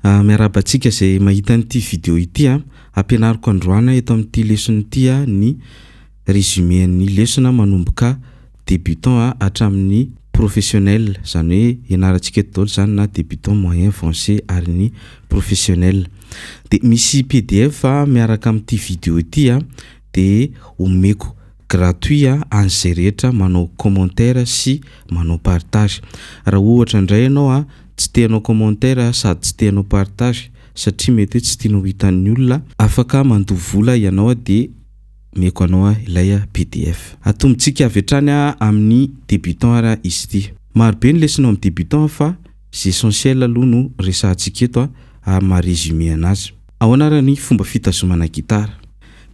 Ah miarahaba antsika izay mahita an'ity video ity ah. Ampianariko androana eto amin'ity lesona ity ah ny résumé an'ny lesona manomboka débutant ah hatramin'ny professionnel, izany hoe ianarantsika eto daholo izany na débutant, moyen, avancé ary ny professionnel. Dia misy pdf miaraka amin'ity video ity ah dia omeko Gratuit a any zay rehetra manao commentaire sy manao partage. Raha ohatra ndray ianao a tsy te hanao commentaire a sady tsy te hanao partage satria mety hoe tsy tianao hitan'ny olona afaka mandoa vola ianao a dia meko anao a ilay pdf. Atombontsika avy hatrany a amin'ny débutant ary a izy ity. Marobe ny lesona ao amin'ny débutant fa z'essentiel aloha no resahantsika eto a ary maha-résumé anazy. Ahoana ary ny fomba fitazomana gitara?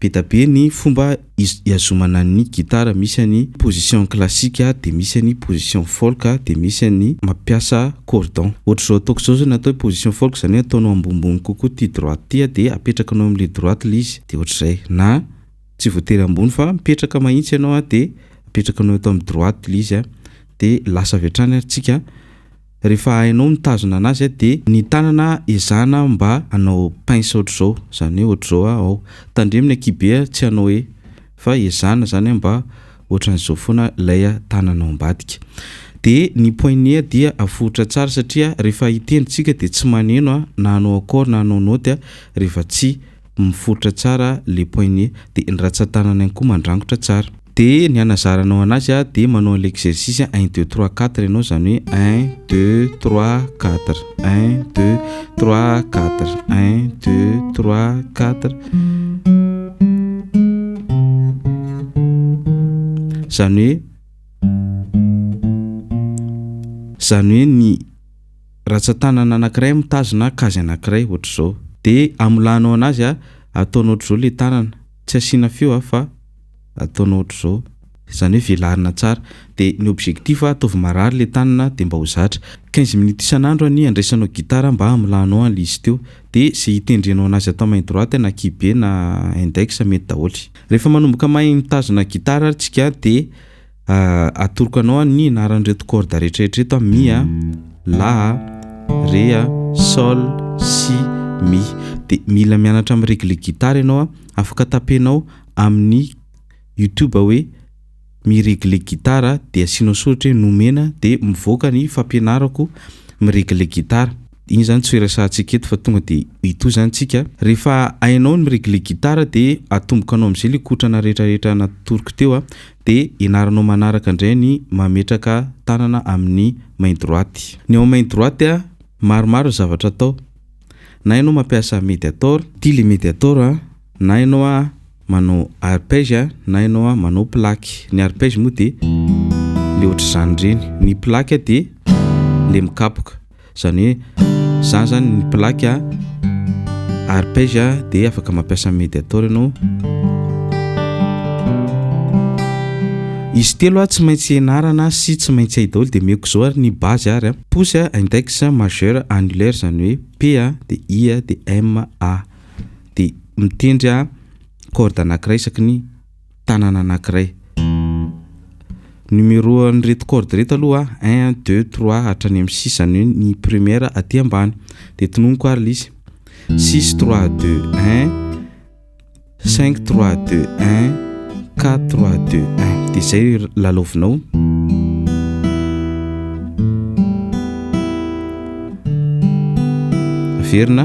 Be da be ny fomba iazomana ny gitara, misy an'ny position classique dia misy an'ny position folk dia misy an'ny mampiasa cordon. Ohatr'izao ataoko izao zao ny atao hoe position folk izany hoe ataonao ambonimbony kokoa ity droite ity dia apetrakinao amin'ilay droite ilay izy dia ohatr'izay na tsy voatery ambony fa mipetraka mahitsy ianao dia apetrakinao eto amin'ny droite ilay izy dia lasa avy hatrany ary tsika Rehefa hainao mitazona anazy a de ny tanana ezahana mba hanao pince ohatr'izao zany hoe ohatr'izao a ao tandremo ny akibe a tsy hanao hoe fa ezahana zany a mba ohatran'izao foana lay a tanana ao ambadika de ny poignet a dia aforitra tsara satria rehefa hitendry tsika de tsy maneno a na hanao accord na hanao note a rehefa tsy miforitra tsara le poignet de ny ratsan-tanana ihany koa mandrangotra tsara. De ny hanazaranao anazy a de manao an'ilay exercice a un deux trois quatre ianao zany hoe un deux trois quatre un deux trois quatre un deux trois quatre zany hoe zany hoe ny ratsan-tanana anankiray mitazona kazy anankiray ohatr'izao de amolanao anazy a ataonao ohatr'izao le tanana tsy asiana feo a fa ataonao ohatr'izao, izany hoe velarina tsara, dia ny objectif a ataovy marary le tanana dia mba ho zatra, quinze minutes isan'andro anie andraisanao guitare mba hamolanao an l'izy teo, dia ze hitendrenao anazy atao main droite na kibe na index mety daholo, rehefa manomboka mahay mitazona guitare ary tsika dia Atoroko anao ny anaran'ireto cordes rehetra rehetra ireto a, mi a, la a, re a, sol, si, mi. Dia mila mianatra mi-regler guitare ianao a, afaka tapenao amin'ny youtube hoe mi-regler guitare dia asianao soratra hoe nomena dia mivoaka ny fampianarako mi-regler guitare. Iny zany tsy ho iresahantsika eto fa tonga dia mitohy zany tsika. Rehefa hainao ny mi-regler gitara dia atomboka anao amizay le kotrana rehetra rehetra natoroko teo a! de ianaranao manaraka ndray ny mametraka tanana amin'ny main droite. Ny ao main droite a, maromaro ny zavatra atao. Na ianao mampiasa mediator. Ty le mediator a, na ianao a manao arpège a, na ianao a manao plaque. Ny arpège moa dia le ohatr'izany reny. Ny plaque dia le mikapoka. Izany hoe za zany ny plaque arpège dia afaka mampiasa ny mediator ianao. Izy telo tsy maintsy ianarana sy tsy maintsy hay daholo dia omeko izao ary ny base ary a. Pouce, index, majeur, annulaire izany hoe P dia I dia M A dia mitendry corde anankiray isaky ny tanana anankiray. Numéro an'ireto corde ireto aloha un deux trois hatrany amin'ny six izany hoe ny première aty ambany dia tononiko ary lisy six trois deux un cinq trois deux un quatre trois deux un dia izay lalaovinao averina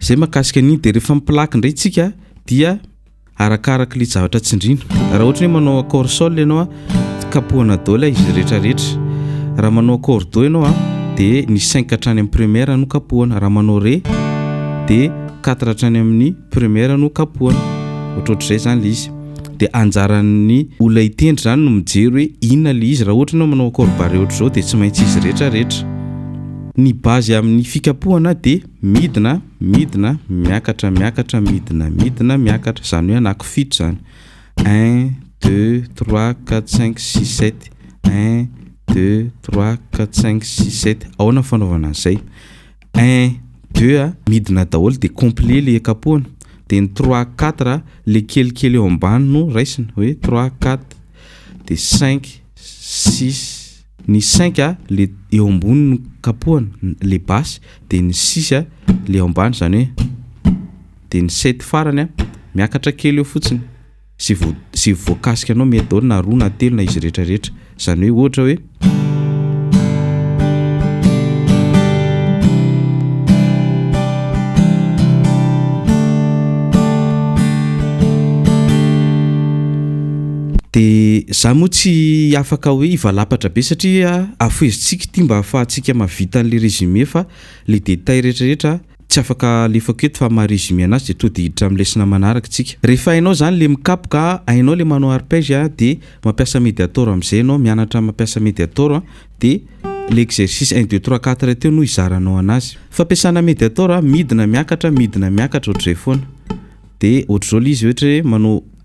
Zay makasika an'iny de refa miplaky ndray tsika dia arakaraky le javatra tsindrina. Raha ohatry ny hoe manao accord sol ianao a kapohana do lay izy rehetra rehetra. Raha manao accord do ianao a de ny cinq hatrany amin'ny première no kapohana. Raha manao re de quatre hatrany amin'ny première no kapohana. Ohatrohatr'izay zany le izy. De anjaran'ny olona hitendry zany no mijery hoe inona le izy. Raha ohatry ny hoe manao accord barré ohatr'izao de tsy maintsy izy rehetra rehetra. Ny base amin'ny fikapohana de. Midina, midina, miakatra, miakatra, midina, midina, miakatra, izany hoe anakifito izany. Un, deux, trois, quatre, cinq, six, sept. Un, deux, trois, quatre, cinq, six, sept. Ahoana fanaovana an'izay? Un, deux a, midina daholo dia complet le kapohana. Dia ny trois, quatre a, le kelikely eo ambany no raisina hoe trois, quatre. Dia cinq, six. Ny cinq a le eo ambony no kapohana le basse de ny six a le eo ambany zany hoe de ny sept farany a miakatra kely eo fotsiny ze vao ze voakasika anao mety daholo na roa na telo na izy rehetra rehetra zany hoe ohatra hoe Dia za moa tsy afaka hoe hivalapatra be satria afohezintsika ity mba afahantsika mahavita an'le résumé fa le détail retraretra tsy afaka alefako eto fa maha-résumé anazy dia tody hiditra amin'ny lesona manaraka tsika. Rehefa hainao zany le mikapoka, hainao le manao arpège a dia mampiasa mediator amizay enao, mianatra mampiasa mediator a dia le exercice un deux trois quatre teo no hizaranao anazy. Fampiasana mediator a, midina miakatra, midina miakatra ohatr'izay foana. Dia ohatr'izao le izy ohatra hoe manao.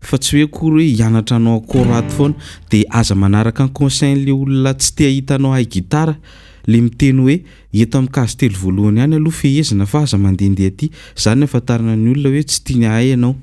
fa tsy hoe akory hoe hianatra hanao accord ato foana de aza manaraka ny conseil le olona tsy te hahita anao hahay gitara le miteny hoe eto am case telo voalohany any aloha fehezina fa aza mandendeha aty zany afantarana ny olona hoe tsy tiany hahay ianao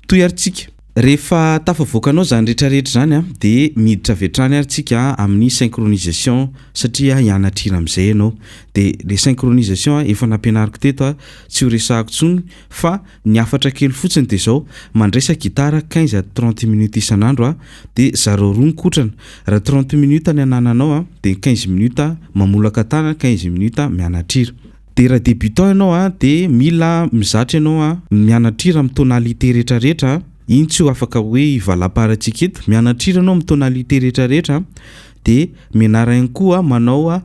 toy ary tsika rehefa tafavoakanao zany rehetra rehetra zany a de miditra avy hatrany ary tsika amin'ny synchronisation satria hianatra hira amizay ianao de le synchronisation efa nampianariko teto a tsy ho resahako tsony Fa ny hafatra kely fotsiny dia izao, mandresa gitara quinze à trente minutes isan'andro aho dia zarao roa mikotrana, raha trente minutes ny anananao a dia quinze minutes mamolaka tànana, quinze minutes mianatra hira. Dia raha débutant ianao a dia mila mizatra ianao a, mianatra hira amin'ny tonalité rehetrarehetra a, iny tsy ho afaka hoe hivalamparantsika eto, mianatra hira ianao amin'ny tonalité rehetrarehetra a, dia menarana ihany koa manao.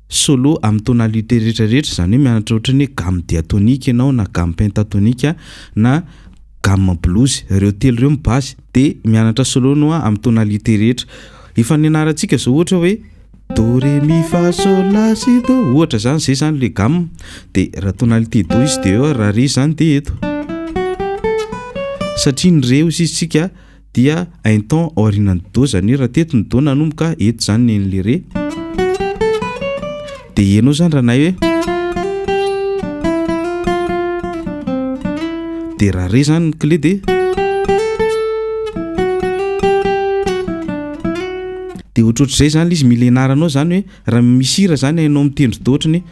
Solo amin'ny tonalité rehetra rehetra, izany hoe mianatra ohatra ny hoe gamme diatonique ianao na gamme pentatonique na gamme blues, ireo telo ireo ny base dia mianatra solo anao amin'ny tonalité rehetra. Efa nianarantsika izao ohatra hoe do re mi fa sol la si do ohatra izany, izay izany ilay gamme dia raha tonalité do izy dia eo ary raha re izany dia eto satria ny re hoy isika dia un ton aorianan'ny do zany raha teto ny do nanomboka eto zany ny an'le re de ianao zany ranay hoe de raha re zany ny clé de de ohatrohatr'izay zany le izy mila ianaranao zany hoe Raha misy hira zany hainao mitendry toa ohatrany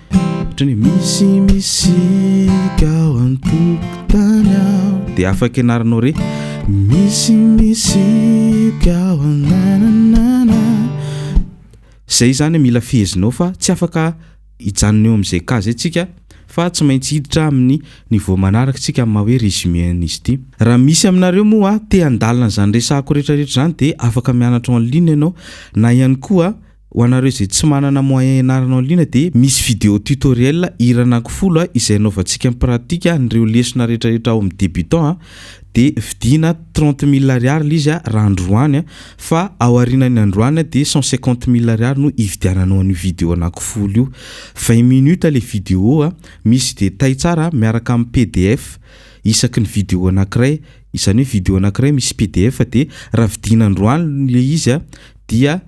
ohatrany hoe misy misika ao an-tokotany aho dia afaka ianaranao re misy misika ao an-nananana zay zany mila fehezinao fa tsy afaka hijanona eo amin'izay cas zay tsika fa tsy maintsy hiditra amin'ny niveau manaraka tsika amin'ny maha hoe résumé an'izy ity raha misy aminareo moa te handalina izany resahako rehetrarehetra izany dia afaka mianatra en ligne ianao na ihany koa Ho anareo izay tsy manana moyen ianarana en ligne dia misy vidéo tutoriel hira anankifolo izay anaovantsika en pratique an'ireo lesona retraretra ao amin'ny débutant a, dia vidiana trente mille ariary ilay izy raha androany a, fa ao arinan'ny androany a dia cent cinquante mille ariary no hividiananao an'io vidéo anankifolo io. Vingt minutes ilay vidéo a, misy détails tsara miaraka amin'ny pdf isaky ny vidéo anankiray, izany hoe vidéo anankiray misy pdf dia raha vidiana androany ilay izy a dia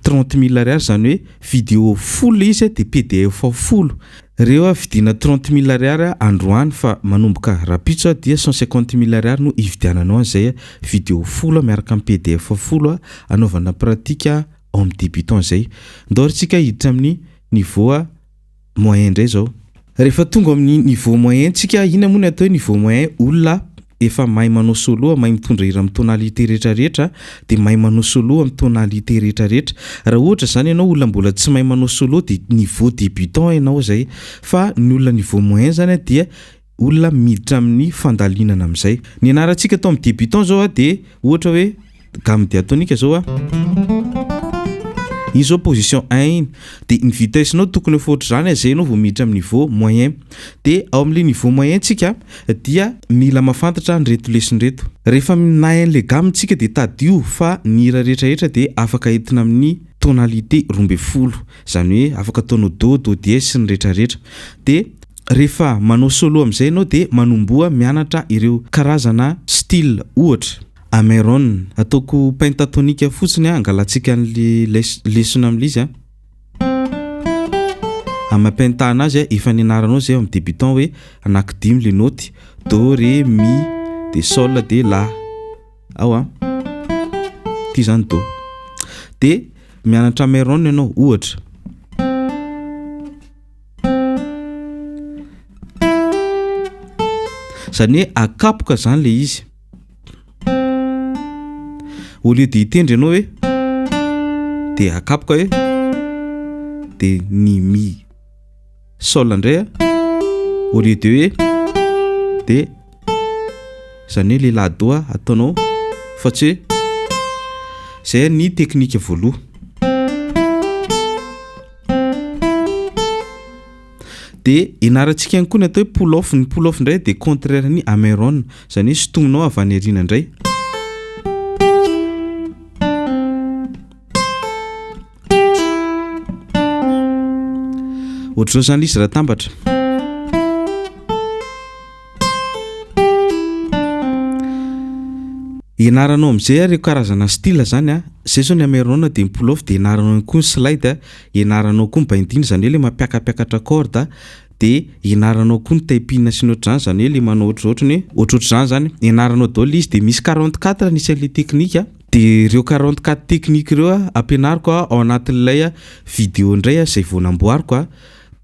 trente mille ariary zany hoe video folo le izy a de pdf ao folo reo a vidiana trente mille ariary a androany fa manomboka rapitso a dia cent cinquante mille ariary no ividiananao an'izay a video folo a miaraka am pdf folo a anaovana pratique a homme debutant zay ndao ary tsika hiditra amin'ny niveau a moyen ndray zao. Rehefa tonga amin'ny niveau moyen tsika ina moa ny atao hoe niveau moyen olona efa mahay manao solo mahay mitondra hira amin'ny tonalité rehetra rehetra dia mahay manao solo amin'ny tonalité rehetra rehetra raha ohatra izany ianao olona mbola tsy mahay manao solo dia niveau débutant ianao izay fa ny olona niveau moyen izany dia olona miditra amin'ny fandalinana amin'izay. Ny anarantsika atao amin'ny débutant zao a dia ohatra hoe gamme diatonique zao a. Iny zao position un iny. Dia ny vitesse-nao tokony ho efa ohatr'izany a, zay enao vao miditra amin'ny niveau moyen. Dia ao amin'le niveau moyen tsika dia mila mafantatra an'ireto lesona ireto. Rehefa minahy an'le gamme tsika dia tadidio fa ny hira rehetrarehetra dia afaka entina amin'ny tonalité roa ambin'ny folo. Izany hoe afaka ataonao do, do dies sy ny retraretra. Dia. Rehefa manao solo amin'izay ianao dia manomboha mianatra ireo karazana style ohatra. Ameron, ataoko pentatonika fotsiny an, angalantsika an'ilay lesona amin'ilay izy an. Amapentahana azy an, efa nianaranao izay ao amin'ny débutant hoe anaky dimy ilay naoty, do, re, mi, dia sol, dia la. Ao an. Ity izany do. Dia mianatra Ameron ianao ohatra. zany hoe akapoka zany le izy au lieu de hitendry ianao hoe de akapoka hoe de ny mi sol indray a au lieu de hoe de Izany hoe ilay la doha ataonao fa tsy hoe Izay ny teknika voaloha. Dia ianarantsika ihany koa ny atao hoe pull off. Ny pull off indray dia contraire ny Ameron. Izany hoe sintominao avy any aoriana indray. Ohatr'izao izany lisy raha tambatra. Ianaranao amin'izay ary karazana style izany a. Izay izao ny ameranao dia ny pull off dia ianaranao ihany koa ny slide a. Ianaranao koa ny binding izany hoe ilay mampiakapakatra corde a. Dia ianaranao koa ny taipina sy ny ohatr'izany izany hoe ilay manao ohatr'izao ohatrany hoe ohatrohatr'izany izany. Ianaranao daholo izy dia misy quarante quatre ny isan'ilay teknika. Dia ireo quarante quatre technique ireo a, ampianariko a, ao anatin'ilay a video indray a, izay vao namboariko a,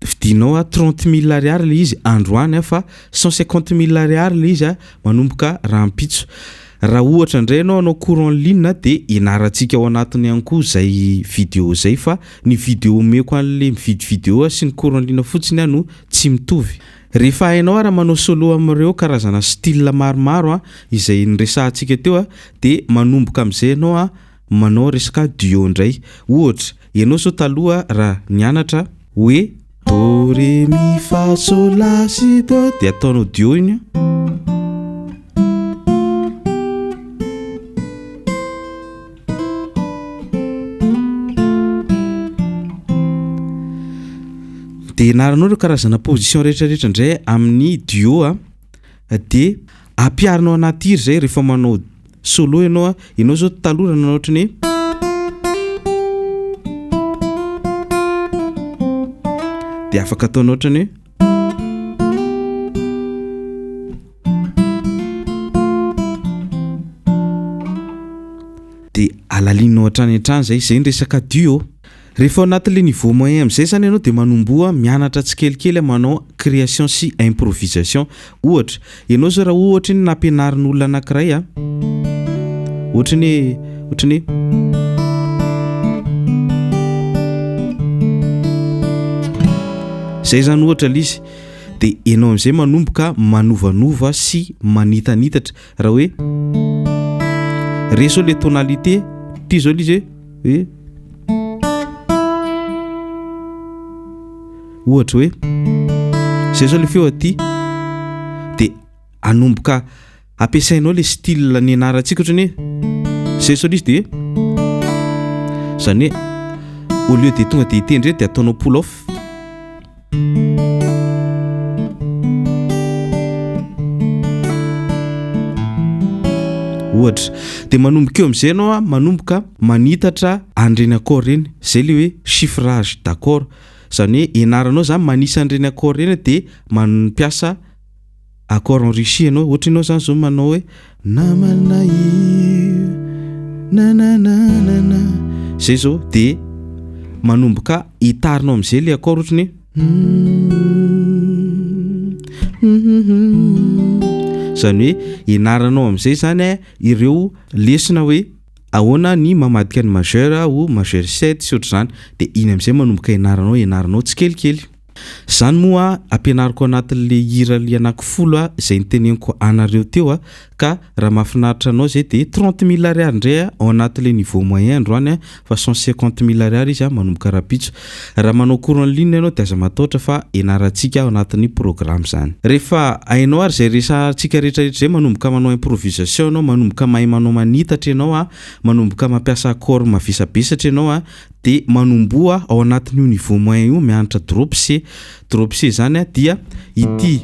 vidianao a trente mille ariary ilay izy androany a, fa cent cinquante mille ariary ilay izy a, manomboka rahampitso. Raha ohatra indray ianao hanao cours en ligne a, dia ianarantsika ao anatiny ihany koa izay video izay, fa ny video omeko an'ilay mividy video a sy ny cours en ligne fotsiny a no tsy mitovy. Rehefa hainao ary manao solo amin'ireo karazana style maromaro izay niresahantsika teo dia manomboka amin'izay ianao manao resaka duo indray. Ohatra, ianao izao taloha raha nianatra hoe do, re, mi, fa, sol, la, si, do dia ataonao duo iny an. de ianaranao ireo karazana position rehetrarehetra indray amin'ny duo a ah, de ampiarinao anaty hira zay rehefa manao solo ianao a ah. ianao zao taloha nanao ohatra ny de afaka ataonao ohatra ny hoe de alalinao hatrany hatrany zay zay ny resaka duo rehefa ao anaty le niveau moyen amizay zany ianao de manomboha mianatra tsikelikely manao creation sy improvisation ohatra Ianao izao raha ohatra ny nampianarin'olona anankiray a, ohatra ny hoe, ohatra ny hoe. Izay izany ohatra ilay izy, dia ianao amin'izay manomboka manovanova sy manitanitatra raha hoe resao ilay tonalité, toy izao ilay izy hoe. hoe ohatra hoe zay zao le feo aty de anomboka ampiasainao le style nianarantsika ohatrany hoe zay zao le izy de zany hoe au lieu de tonga de hitendry eto de ataonao pull off ohatra dia manomboka eo amin'izay ianao manomboka manitatra an'ireny accord ireny izay ilay hoe chiffrage d'accord izany hoe ianaranao izany manisa an'ireny accord ireny dia mampiasa accord en Russie ianao, ohatry ianao izany izao manao hoe namana io nanananana izay izao dia manomboka hitarinao amin'izay ilay accord ohatry ny izany hoe ianaranao amin'izay izany eh, ireo lesona hoe ahoana ny mamadika ny majeur ho majeur 7 sy ohatr'izany dia iny amin'izay manomboka ianaranao ianaranao tsikelikely. Zany moa ampianariko anatin le hira le anaky folo a zay niteneniko anareo teo a ka raha mafinaritra anao zay de trente mille ariary ndray a ao anaty le niveau moyen androany a fa cent cinquante mille ariary izy a manomboka rapitso raha manao cours en ligne ianao de aza mataotra fa enaratsika ao anatiny programme zany refa ainao ary zay resa tsika retra retra zay manomboka manao improvisation ianao manomboka mahay manao manitatra ianao a manomboka mampiasa accord mavesabesatra ianao a. de manomboha ao anatin'io niveau moyen io mianatra drop C drop C zany a dia ity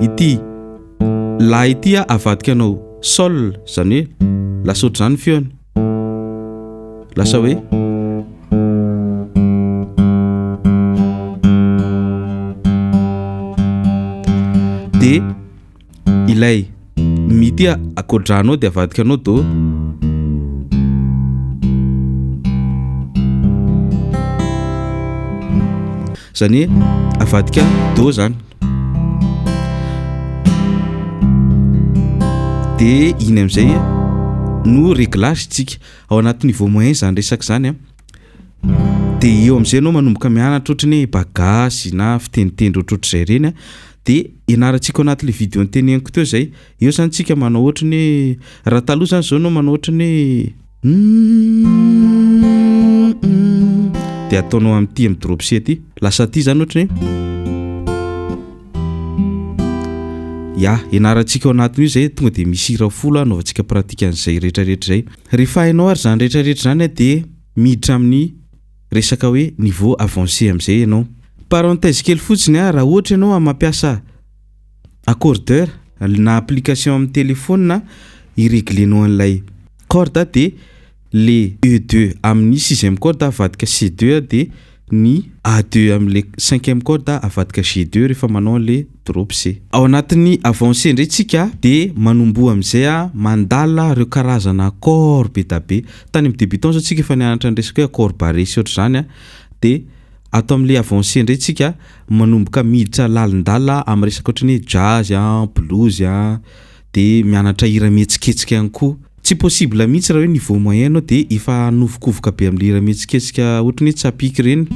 ity la ity a avadika anao sol zany hoe lasa ohatr'izany ny feony lasa hoe de Ilay Mi tia akodrahanao dia avadikanao Do. Izany hoe avadika Do izany. Dia iny amin'izay no réglage tsika ao anaty niveau moyen izany resaka izany a. Dia eo amin'izay ianao manomboka mianatra ohatry ny hoe bagasy na fiteniteny ohatrohatr'izay ireny a. de ianarantsika ao anatin'le vidéo noteneniko teo zay eo zany tsika manao ohatry ny hoe raha taloha zany zao nao manao ohatry ny de ataonao am'ty am drop c ty lasa aty zany ohatry ny ya ianarantsika ao anatin'io zay tonga de misy hira folo anaovantsika pratique an'zay retraretra zay rehefa hainao ary zany retraretra zany de miditra amin'ny resaka hoe niveau avancé amin'izay ianao. Parenthèse kely fotsiny a, raha ohatra ianao a mampiasa accordeur na application amin'ny telephone hi-reglenao an'ilay corde dia le E deux amin'ny sixième corde avadika C deux dia ny A deux amin'ilay cinquième corde avadika G deux rehefa manao an'ilay Drops e. Ao anatin'ny avancé indray tsika de manomboha amizay a mandala reo karazana accord be da be. Tany am debutant zao tsika efa nianatra ny resaka hoe accord barré sy ohatr'izany a de ato amle avancé indray tsika manomboka miditra lalindala am resaka ohatran'ny hoe jazz a, blues a, de mianatra hira mihetsiketsika ihany koa. Tsy possible mihitsy raha hoe niveau moyen anao de efa hanovokovoka be amle hira mihetsiketsika ohatry ny hoe tsapiky ireny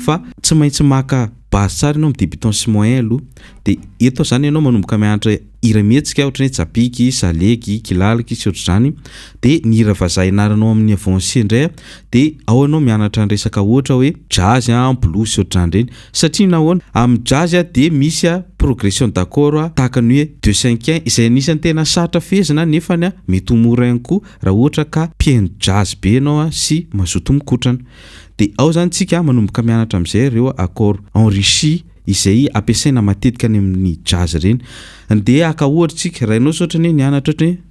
fa tsy maintsy maka base tsara ianao amin'ny débutant sy moyen aloha de eto zany ianao manomboka mianatra hira mihetsika ohatry ny hoe tsapiky, salegy, kilaliky sy ohatr'izany de ny hira vazaha ianaranao amin'ny avancé indray de ao ianao mianatra ny resaka ohatra hoe jazz, blues sy ohatr'izany ireny Satria nahoana? Amin'ny jazz dia misy progression d'accord tahaka ny hoe deux cinquiens izay anisan'ny tena sarotra fehezina nefany mety ho mora ihany koa raha ohatra ka mpihaino jazz be ianao sy mazoto mikotrana. Dia ao izany tsika manomboka mianatra amin'izay ireo accords enrichis izay ampiasaina matetika any amin'ny jazz ireny. Ndeha haka ohatra tsika, raha ianao sao ohatra ny hoe nianatra ohatra ny hoe.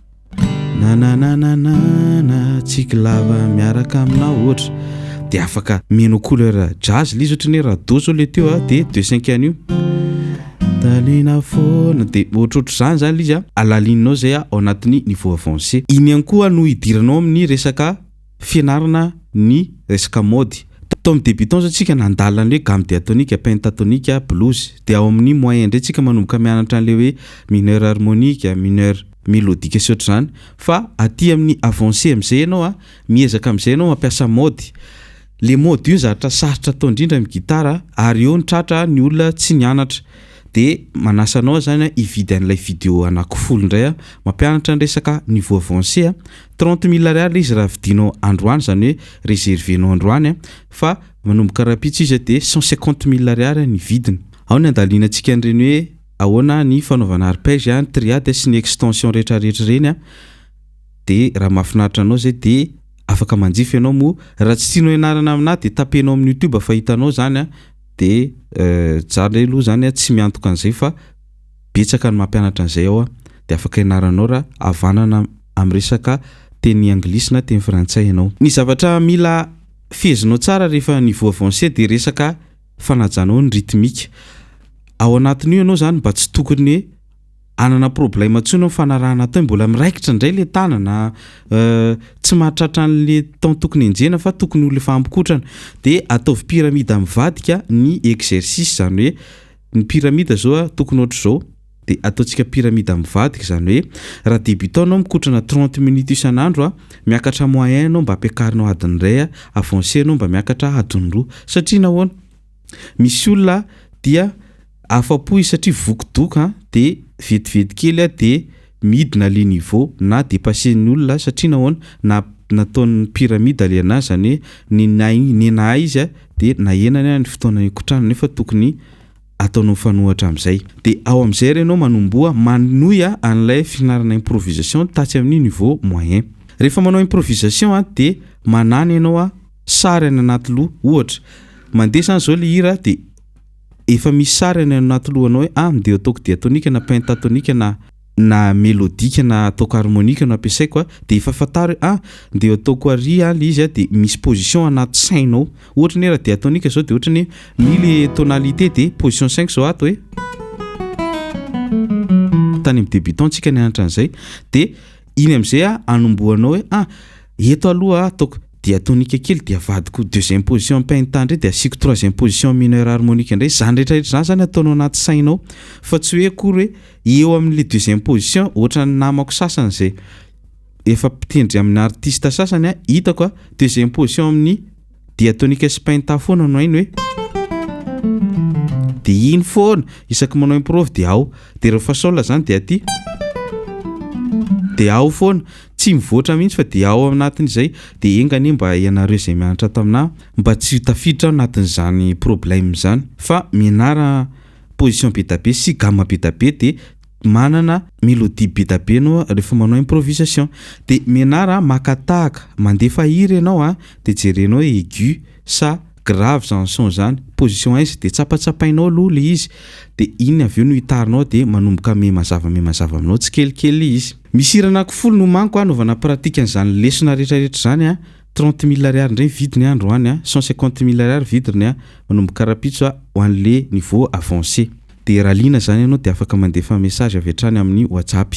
Nananananana tsiky lava miaraka aminao ohatra dia afaka mino couleur jazz lizy ohatry ny rado zao le teo ah dia deux cinq an'io talina foana dia ohatrohatry izany zany lizy ah alalininao zay ah ao anatin'ny niveau avancé iny ihany koa no hidiranao amin'ny resaka fianarana ny resaka mode. Tao amin'ny debutants zao tsika nandalina ny hoe gamme diatonique, pentatonique, blues. Dia ao amin'ny moyen indray tsika manomboka mianatra an'ilay hoe mineur harmonique, mineur melodique sy ohatr'izany. Fa aty amin'ny avancé amin'izay ianao a, miezaka amin'izay ianao mampiasa mode. Le mode io ny zavatra sarotra atao indrindra amin'ny gitara ary eo ny tratra ny olona tsy nianatra. De manasa anao zany a hividy an'ilay video anaky folo indray aho mampianatra ny resaka niveau avancé a. Trente mille ariary le izy raha vidinao androany zany hoe reservenao androany a fa manomboka rahampitso izy a de cent cinquante mille ariary a ny vidiny. Ao ny andalinantsika an'ireny hoe ahoana ny fanaovana arpège a, ny triade sy ny extension rehetrarehetra ireny a de raha mahafinaritra anao zay de afaka manjifa ianao moa raha tsy tianao ianarana aminà de tapenao amin'ny youtube fa hitanao zany a de zany aloha zany a tsy miantoka an'izay fa betsaka ny mampianatra an'izay ao dia afaka ianaranao raha havanana amin'ny resaka teny anglisy na teny frantsay ianao. Ny zavatra mila fehezinao tsara rehefa niveau avancé dia resaka fanajana ao ny rythmique. Ao anatin'io ianao izany mba tsy tokony hoe hanana problème intsony amin'ny fanarahana atao hoe mbola miraikitra indray ilay tanana, tsy mahatratra an'ilay temps tokony henjehina fa tokony ho efa hamikotrana. Dia ataovy pyramide mivadika ny exercice izany hoe. Ny pyramide zao a tokony ohatra zao de ataontsika pyramide mivadika zany hoe raha debutant anao mikotrana trente minutes isan'andro a miakatra moyen anao mba ampiakarinao adiny iray a avancé anao mba miakatra adiny roa satria nahoana misy olona dia afa-po izy satria voky doka a de vetivety kely a de midina le niveau na depasser ny olona satria nahoana na nataony pyramide le anah zany hoe nenay nenahay izy de nahenany aho ny fotoana nikotrahana nefa tokony ataonao mifanohatra amzay de ao amzay re enao manomboha manohy anlay fianarana improvisation tatsy aminy niveau moyen refa manao improvisation a de manana enao a sary any anaty loha ohatra mandeha zany zao le hira de Efa misy sary any anaty lohanao hoe ah mideo ataoko diatonika na pentatonika na na melodika na ataoko harmonika no ampiasaiko a, dia efa fantaro hoe ah mideo ataoko ary ah le izy a, dia misy position anaty sainao. Ohatra ny hoe raha diatonika izao dia ohatra ny hoe mi le tonalité dia position sainiko izao ato hoe tany amin'ny débutant tsika nianatra an'izay dia iny amizay a anombohanao hoe ah eto aloha ataoko dia tonika kely dia avadiko deuxième position pentatone indray dia asiako troisième position mineure harmonique indray zany rehetra rehetra zany zany ataonao anaty sainao fa tsy hoe akory hoe eo amin'ny le deuxième position ohatran'ny namako sasany zay efa mpitendry amin'ny artiste sasany a hitako a deuxième position amin'ny dia tonika sy painta foana no hainy hoe dia iny foana isaky manao improve dia ao dia ireo fasola zany dia aty dia ao foana tsy mivoatra mihitsy fa dia ao anatin'izay dia enga anie mba ianareo izay mianatra taminah mba tsy tafiditra anatin'izany problème zany fa mianara position be dabe sy gamme be dabe dia manana melodie be da be anao a refa manao improvisation de menard a maka tahaka mandefa hira ianao a de jerenao hoe aigu sa grave zany son zany position aiza de tsapatsapainao aloha le izy de iny avy eo no hitarinao de manomboka miha mazava miha mazava aminao tsikelikely izy. Misy hira anaky folo no manko a anaovana pratique an'izany lesona retraretra izany a trente mille ariary indray ny vidiny a androany a cent cinquante mille ariary vidrny a manomboka rapitso a ho an'le niveau avancé. Dia raha liana izany ianao dia afaka mandefa message avy hatrany amin'ny WhatsApp.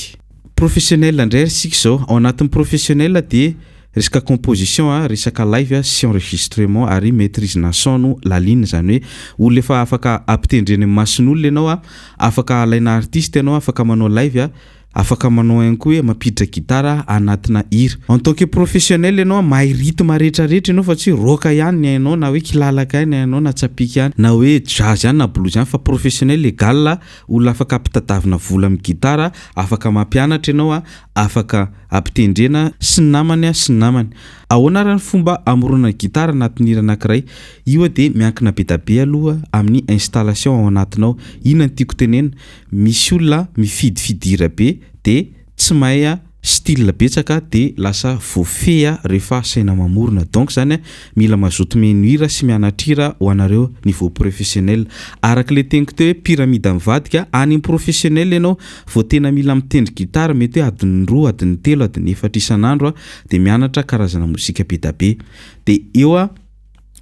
Professionnel indray ary isika izao. Ao anatin'ny professionnel dia resaka composition, resaka live sy enregistrement ary maitrise na son no lalina. Izany hoe olona efa afaka ampitendreny amin'ny mason'olona ianao, afaka alaina artiste ianao, afaka manao live. Afaka manao ihany koa hoe mampiditra gitara anatina hira. En tant que professionnel ianao a, mahay rythme rehetra rehetra ianao fa tsy hoe rock ihany ny hainao na hoe kilalaka ihany ny hainao na tsapìka ihany na hoe jazz ihany na blues ihany fa professionnel égal a olona afaka ampitadavina vola amin'ny gitara, afaka mampianatra ianao a, afaka ampitendrena sy ny namany a, sy ny namany. Ahoana ary ny fomba amoronana gitara anatin'ny hira anankiray? Io a dia miankina be da be aloha amin'ny installation ao anatinao. Inona no tiako tenenina? misy olona mifidy fidira be de tsy mahay style betsaka de lasa voafehy refa asaina mamorona donc zany mila mazoto mihaino hira sy mianatra hira ho anareo niveau professionnel araka le teniko teo hoe pyramide mivadika any am professionnel ianao vao tena mila mitendry guitare mety hoe adiny roa adiny telo adiny efatra isan'andro de mianatra karazana mozika be da be de eo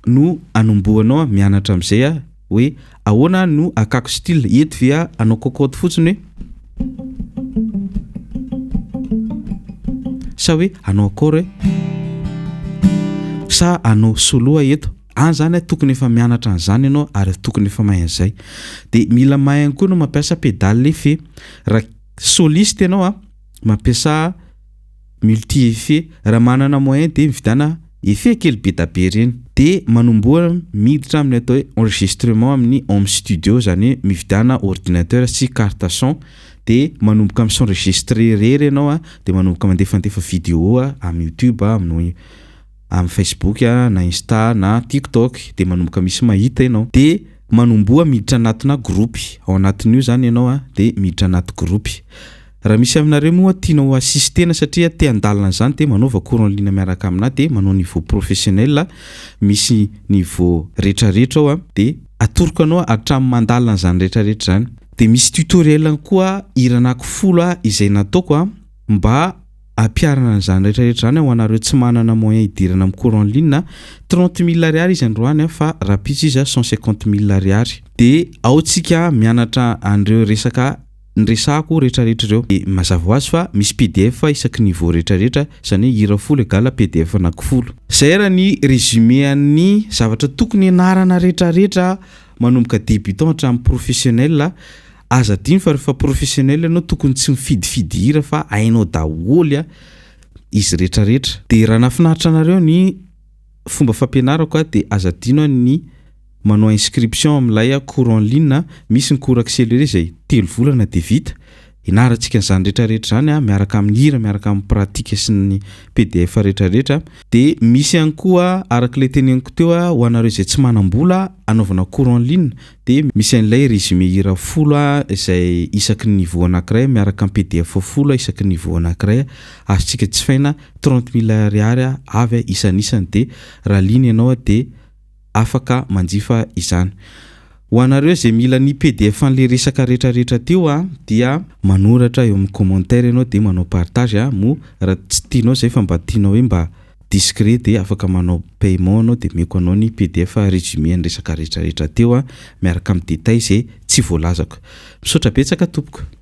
no anombohanao a, mianatra amizay a, hoe ahoana no akako style, eto ve a anao cocotte fotsiny hoe sa hoe anao accord hoe sa anao solo a eto any zany a tokony efa mianatra an'izany ianao ary tokony efa mahay an'izay de mila mahay ihany koa ianao mampiasa pedale fe raha soliste ianao a mampiasa multi effet raha manana moyen dia mividana effet kely bedabe ireny dia manomboha miditra amin'ny atao hoe enregistrement amin'ny home studio izany hoe mividana ordinateur sy carte son dia manomboka mi s'enregistrer irery ianao a dia manomboka mandefandefa video a amin'ny youtube a amin'ny amin'ny facebook a na insta na tiktok dia manomboka misy mahita ianao dia manomboha miditra anatina groupe ao anatin'io izany ianao a dia miditra anaty groupe Raha misy aminareo moa tiana ho assistena satria te handalina an'izany dia manaova cours en ligne miaraka aminà dia manao niveau professionnel a, misy niveau retraretra ao a, dia atoroko anao hatramin'ny mandalina an'izany retraretra izany. Dia misy tutoriel ihany koa hira anankifolo a izay nataoko a mba hampiharana an'izany retraretra izany ho anareo tsy manana moyen hidirana amin'ny cours en ligne a, trente mille ariary izy androany a fa rahampitso izy a cent cinquante mille ariary. Dia ao tsika mianatra an'ireo resaka Ny resako retraretra ireo de mazava ho azy fa misy pdf isaky ny vo retraretra zany hoe hira folo egal pdf anaky folo. Zay ary ny résumé an'ny zavatra tokony ianarana retraretra manomboka débutant hatramin'ny professionnel a! Aza adino fa refa professionnel ianao tokony tsy mifidifidy hira fa hainao daholy a izy retraretra. De raha nafinaritra anareo ny. Fomba fampianarako a dia aza adino a ny manao inscription amin'ilay a cours en ligne a, misy ny cours accéléré izay telo volana dia vita, ianarantsika an'izany retraretra izany a miaraka amin'ny hira, miaraka amin'ny pratique sy ny pdf retraretra, dia misy ihany koa arak'ilay teneniko teo a ho anareo izay tsy manam-bola a anaovana cours en ligne dia misy an'ilay résumé hira folo a izay isaky ny niveau anankiray miaraka amin'ny pdf folo a isaky ny niveau anankiray a azontsika jifaina trente mille ariary avy isanisany dia raha liana ianao dia afaka manjifa izany. Ho anareo izay mila ny pdf an'ilay resaka retraretra teo dia manoratra eo amin'ny commentaire ianao dia manao partage a, moa raha tsy tianao izay fa mba tianao hoe mba discret dia afaka manao paiement ianao dia omeko anao ny pdf résumé an'ny resaka retraretra teo miaraka amin'ny détails izay tsy voalazako. Misaotra betsaka tompoko.